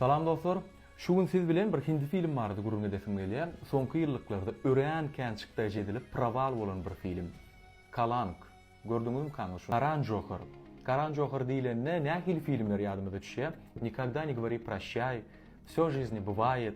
Salam dostlar! Şu gün siz bilen bir hindi film barada gürrüň edesim gelýär. Soňky ýyllyklarda örän kän çykdaýjy edilip prawal bolan bir film. Kalank. Gördüňizmi kaňyz şuny? Karan Johar. Karan Johar diýlende nähili filmler ýadymyza düşýär? Nikogda ne govori proşýaý, Vsё žizni bywaýet,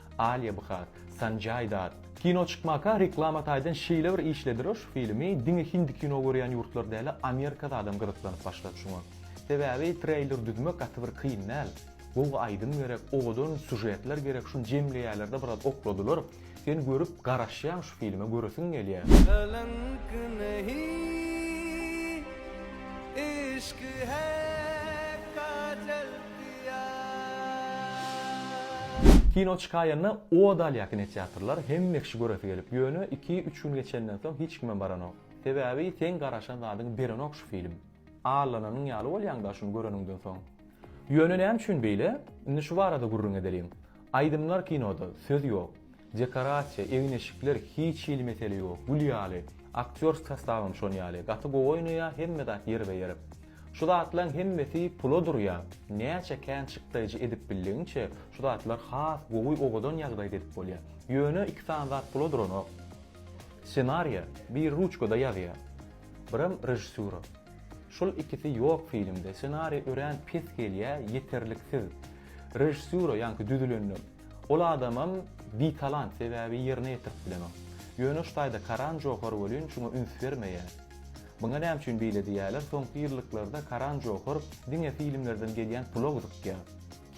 Alýa Bhar, Sanjay Datt. Kino çykmaka reklama taýdan şeýle bir işlediler şu filmi diňe hindi kino görýän ýurtlar däl-a Amerikada adam gyzyklanyp başlady şuňa. Sebäbi treýler düzmek gaty bir kyn däl. Gowy aýdym gerek, owadan sujetler gerek şuny jemleýärlerde biraz okladylar. Sen görüp garaşýaň şu filme göresiň gelýär. Kalank nahi ishq hai kajal. Kino çykaýanda o dal ýakyn etýatrlar hemme kişi göresi gelip ýöne iki üç gün geçenden soň hiç kimem baranok sebabi seň garaşan zadyňy berenok şu film allananyň ýaly bolýaňda şuny göreniňden soň ýöne näme üçin beýle indi şu barada gürrüň edeliň aýdymlar kinoda söz ýok Dekorasiýa, egin-eşikler hiç hili mesele ýok, gül ýaly. Aktýor sostabam şon ýaly, gaty gowy oýnaýar, hemme zat ýerbe-ýer. Şu zatlaň hemmesi pula durýar. Näçe kän çykdaýjy edip bildigiňçe, şu zatlar has gowy owadan ýagdaýda edip bolýar. Ýöne iki sany zat pula duranok. Ssenariýa biri ruçkada ýazýar, birem režissýura. Şul ikisi ýok filmde, ssenariýa örän pes gelýär, ýeterliksiz. Režissýura, ýaňky düzülenden, Ol adamam bitalant sebäbi ýerine ýetirip bilenok. Ýöne şu taýda Karan Johar welin şuňa üns bermeýär. Muňa näme üçin beýle diýýärler, soňky ýyllyklarda Karan Johar diňe filmlerden gelýän pula gyzykýar.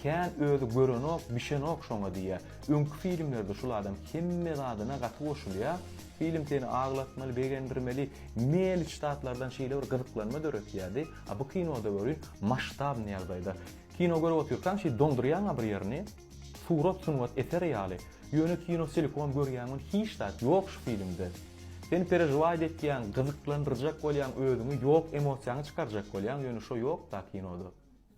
Kän özi görenok, bişenok şoňa diýýär. Öňki filmlerde şul adam hemme zadyna gaty goşulýar. Film seni aglatmaly, begendirmeli, mäliç zatlardan şeýle bir gyzyklanma döretýärdi. A bu kinoda welin masştabny ýagdaýda. Kino görüp otyrkaň şeý dondurýaňa bir ýerini, surat sungat eseri ýaly, ýöne kino selikom görýäň ol hiç zat ýok şu filmde. Sen perežwaýt etýäň, gyzyklandyrjak bolýaň özüňi ýok emosiýaňy çykarjak bolýaň ýöne şo ýokda kinoda.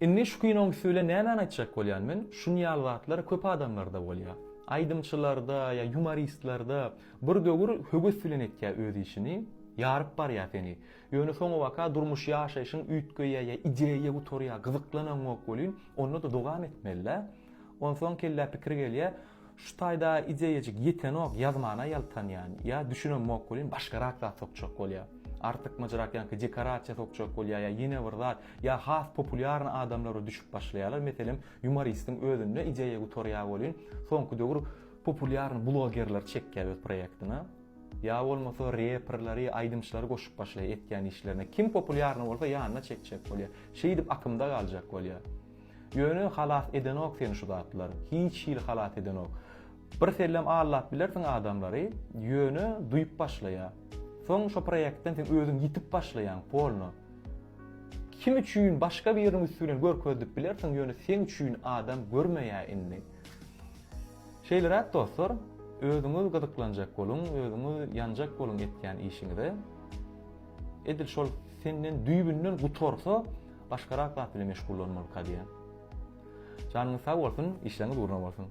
Indi şu kinoň üsti bilen nämäni aýtjak bolýan men, şun ýaly zatlar köp adamlarda bolýa. Aýdymçylarda ýa ýumoristlarda bir döwür höwes bilen etýä öz işini, ýaryp barýa seni. Ýöne soňabaka durmuş ýaşaýşyň üýtgeýä ýa ideýa gutarýa gyzyklanaňok welin onda-da dowam etmelä. Onsoň kellä pikir gelýä şu taýda ideýajyk ýetenok ýazmana ýaltanýan ýa düşünemok welin başgarak zat sokjak bolýa. Artykmajyrak ýaňky dekorasiýa sokjak bolýa ýa ýene bir zat ýa has populýarny adamlara düşüp başlaýalar meselem ýumoristiň özünde ideýa gutarýa welin soňky döwür populýarny blogerler çekýä öz proýektine. Ýa bolmasa reperleri, aýdymçylary goşup başlaýar etýän işlerine. Kim populýarny bolsa ýanyna çekjek bolýar. Şeýdip akymda galjak bolýar. Ýöne halas edenok seni şu zatlar. Hiç hili halas edenok. Birsellem aldap bilersiň adamlary, ýöne duýup başlaýar. Soň şo proýektden sen özüň ýitip başlaýaň, polno. Kim üçin başga biriniň üsti bilen görkezdip bilersiň, ýöne seň üçin adam görmeýär indi. Şeýleräk dostlar, özüňiz gyzyklanjak boluň, özüňiz ýanjak boluň etýän işiňize. Edil şol senden düýbünden gutarsa, başgarak zat bilen meşgullanmalyka diýýän. Janyňyz sag bolsun, işleriňiz ugruna bolsun!